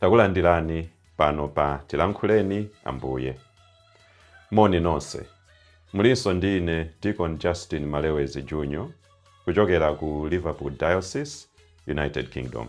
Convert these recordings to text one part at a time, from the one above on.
takulandirani pano pa tilankhuleni ambuye moni nonse mulinso ndi ine deacon justin malewezi jr kuchokera ku liverpool diocese united kingdom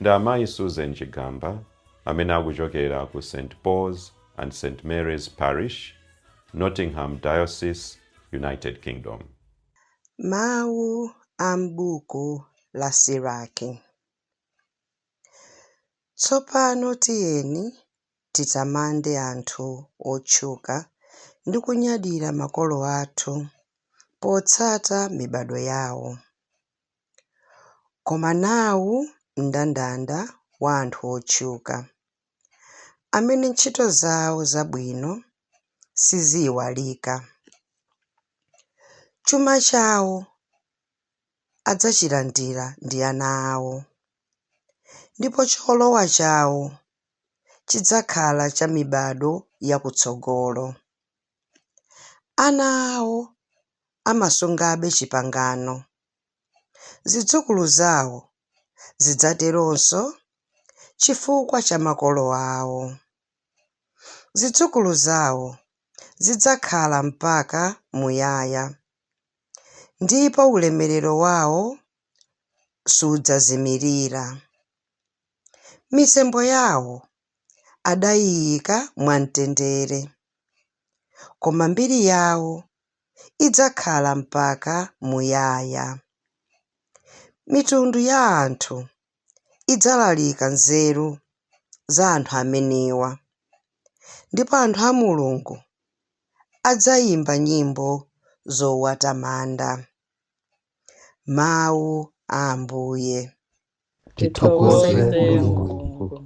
Ndi amayi Susan Chigamba amene akuchokera ku St Paul's and St Mary's Parish, Nottingham Diocese, United Kingdom. Mawu a m'buku la Siraki. Tsopano tiyeni titamande anthu otchuka ndi kunyadira makolo athu potsata mibadwo yawo. Koma nawu mndandanda wa anthu otchuka amene ntchito zawo zabwino siziiwalika. Chuma chawo adzachilandira ndi ana awo, ndipo cholowa chawo chidzakhala cha mibadwo yakutsogolo. Ana awo amasungabe chipangano. Zidzukulu zawo zidzateronso chifukwa cha makolo awo. Zidzukulu zawo zidzakhala mpaka muyaya, ndipo ulemerero wawo sudzazimirira. Mitembo yawo adayiika mwamtendere, koma mbiri yawo idzakhala mpaka muyaya. Mitundu ya anthu idzalalika nzeru za anthu amenewa, ndipo anthu a Mulungu adzaimba nyimbo zowatamanda. Mawu a Ambuye. tithokoze mulungu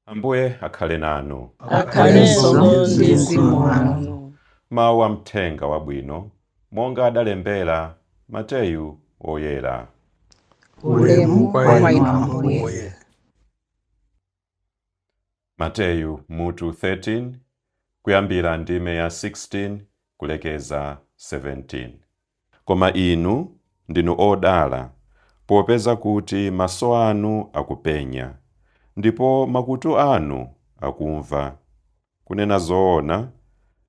ambuye akhale nanu akhalenso ndi mzimu wanu mawu a mthenga wabwino monga adalembera mateyu woyera ulemu kwa inu ambuye Mateyu mutu 13 kuyambira ndime ya 16 kulekeza 17. Koma inu ndinu odala, popeza kuti maso anu akupenya, ndipo makutu anu akumva. Kunena zoona,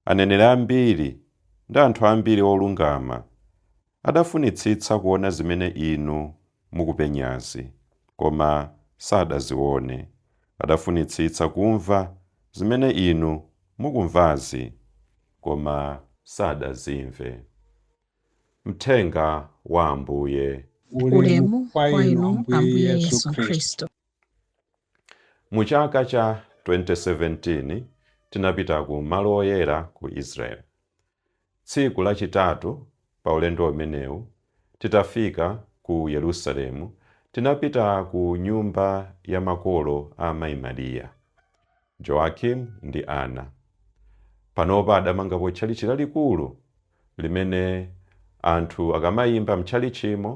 aneneri ambiri ndi anthu ambiri olungama adafunitsitsa kuona zimene inu mukupenyazi, koma sadaziwone. Adafunitsitsa kumva zimene inu mukumvazi, koma sadazimve. Mthenga wa Ambuye. Ulemu kwa Inu Ambuye Yesu Khristu. Mu chaka cha 2017 tinapita ku malo oyera ku Israel. Tsiku la chitatu pa ulendo umenewu titafika ku Yerusalemu tinapita ku nyumba ya makolo a Mayi Maria. Joachim ndi Anna panopa adamangapo tchalitchi lalikulu limene anthu akamaimba m'tchalitchimo,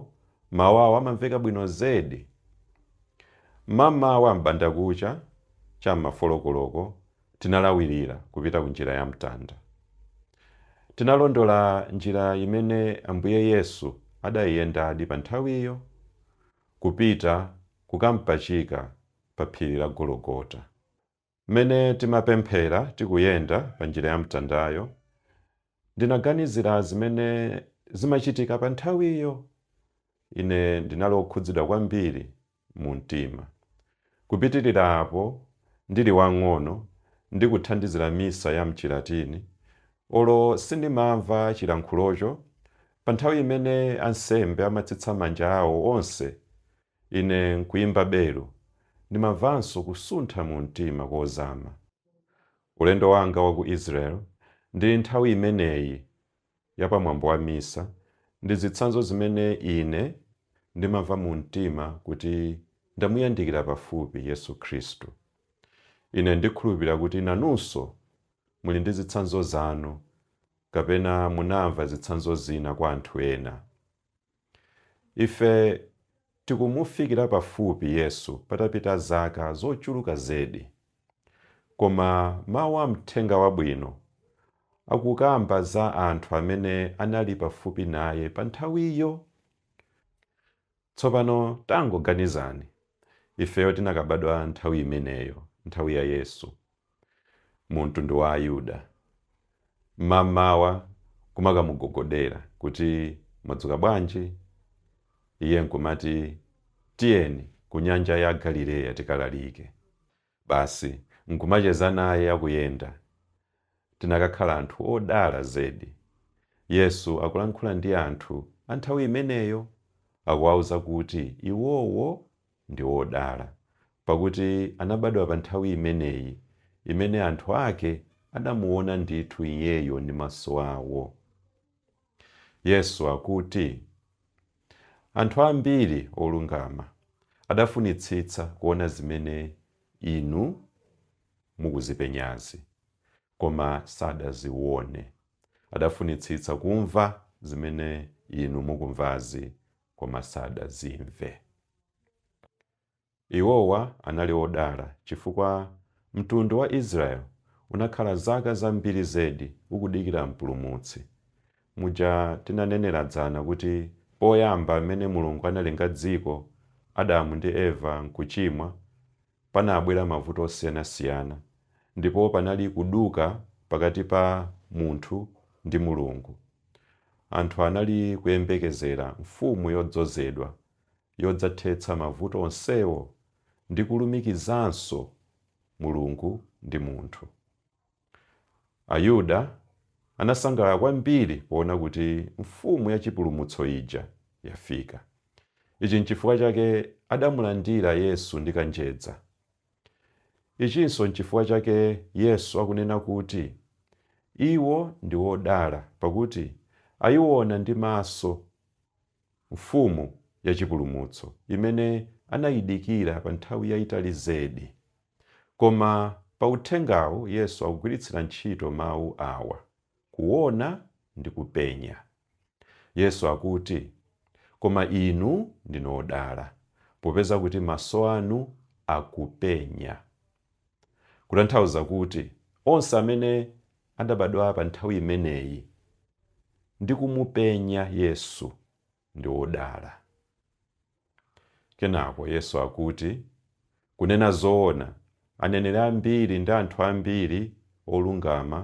mawu awo amamveka bwino zedi. Mmamawa m'bandakucha, cha m'ma folo koloko, tinalawirira kupita ku Njira ya Mtanda. Tinalondola njira imene Ambuye Yesu adaiyendadi panthawiyo, kupita kukampachika pa phiri la Gologota. Mmene timapemphera tikuyenda pa njira ya mtandayo, ndinaganizira zimene zimachitika pa nthawiyo. Ine ndinali wokhudzidwa kwambiri mu mtima. Kupitirira apo, ndili wang'ono ndi kuthandizira Misa ya m'Chilatini, olo sindimamva chilankhulocho, pa nthawi imene ansembe amatsitsa manja awo onse Ine nkuyimba belu, ndimamvanso kusuntha mu mtima kozama. Ulendo wanga wa ku Israel ndi nthawi imeneyi ya pa mwambo wa misa ndi zitsanzo zimene ine ndimamva mu mtima kuti ndamuyandikira pafupi Yesu Khristu. Ine ndikhulupirira kuti nanunso muli ndi zitsanzo zanu kapena munamva zitsanzo zina kwa anthu ena. Ife tikumufikira pafupi Yesu patapita zaka zochuluka zedi. Koma mau a Mthenga Wabwino akukamba za anthu amene anali pafupi naye panthawiyo. Tsopano tangoganizani, ifeyo tinakabadwa nthawi imeneyo, nthawi ya Yesu. mu mtundu wa Ayuda. Mmamawa kumakamugogodera kuti, Mwadzuka bwanji? Iye nkumati, Tiyeni ku Nyanja ya Galileya tikalalike. Basi nkumacheza naye akuyenda. Tinakakhala anthu odala zedi! Yesu akulankhula ndi anthu a nthawi imeneyo, akuwauza kuti iwowo Ndi odala, pakuti anabadwa pa nthawi imeneyi, imene anthu ake adamuwona ndithu Iyeyo ndi maso awo. Yesu akuti, Anthu ambiri olungama adafunitsitsa kuona zimene inu mukuzipenyazi, koma sadaziwone. Adafunitsitsa kumva zimene inu mukumvazi, koma sadazimve. Iwowa anali odala chifukwa mtundu wa Israeli unakhala zaka zambiri zedi ukudikira mpulumutsi. Muja tinanenera dzana kuti poyamba mmene Mulungu analenga dziko, Adamu ndi Eva nkuchimwa, panabwera mavuto osiyanasiyana ndipo panali kuduka pakati pa munthu ndi Mulungu. Anthu anali kuyembekezera Mfumu yodzozedwa yodzathetsa mavuto onsewo ndi kulumikizanso Mulungu ndi munthu. Ayuda anasangalala kwambiri poona kuti Mfumu yachipulumutso ija yafika. Ichi n'chifukwa chake adamulandira Yesu ndi kanjedza. Ichinso n'chifukwa chake Yesu akunena kuti, Iwo ndi odala, pakuti aiwona ndi maso Mfumu ya chipulumutso imene anaidikira pa nthawi yaitali zedi. Koma pa uthengawu Yesu akugwiritsira ntchito mawu awa, kuona ndi kupenya. Yesu akuti, Koma inu ndinu odala, popeza kuti maso anu akupenya. Kutanthauza kuti onse amene adabadwa pa nthawi imeneyi ndi kumupenya Yesu ndi odala. Kenako Yesu akuti, Kunena zoona, aneneri ambiri ndi anthu ambiri olungama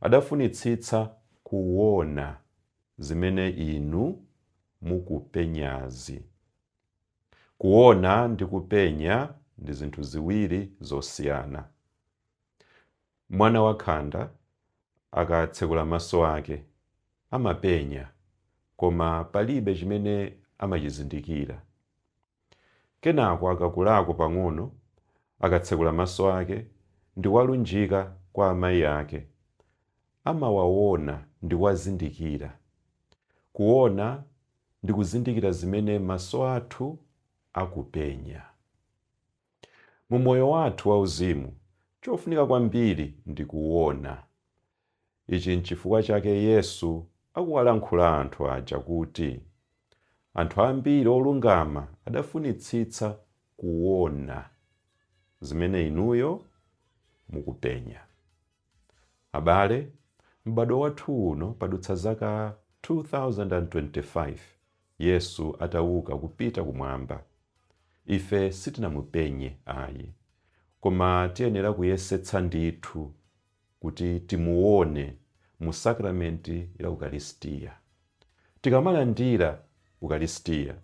adafunitsitsa kuona zimene inu mukupenyazi. Kuona ndi kupenya ndi zinthu ziwiri zosiyana. Mwana wakhanda akatsekula maso ake, amapenya koma palibe chimene amachizindikira. Kenako akakulako pang'ono, akatsekula maso ake ndi kuwalunjika kwa amayi ake, amawaona ndi kuwazindikira. Kuona ndi kuzindikira zimene maso athu akupenya. Mu moyo wathu wauzimu, chofunika kwambiri ndi kuona. Ichi n'chifukwa chake Yesu akuwalankhula anthu aja kuti, Anthu ambiri olungama adafunitsitsa kuona zimene inuyo mukupenya. Abale, m'badwo wathu uno padutsa zaka 2025 Yesu atawuka kupita kumwamba. Ife sitinamupenye ayi, koma tiyenera kuyesetsa ndithu kuti timuwone mu sakramenti la Ukalistia. Tikamalandira Ukalisitiya,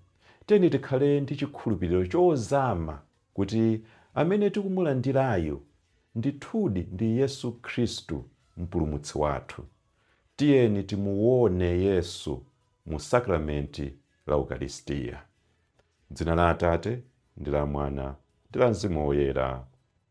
tiyeni tikhale ndi chikhulupiriro chozama kuti amene tikumulandirayu ndithudi ndi Yesu Khristu Mpulumutsi wathu. Tiyeni timuwone Yesu mu sakramenti la Ukalisitiya. M'dzina la Atate, ndi la Mwana, ndi la Mzimu Woyera.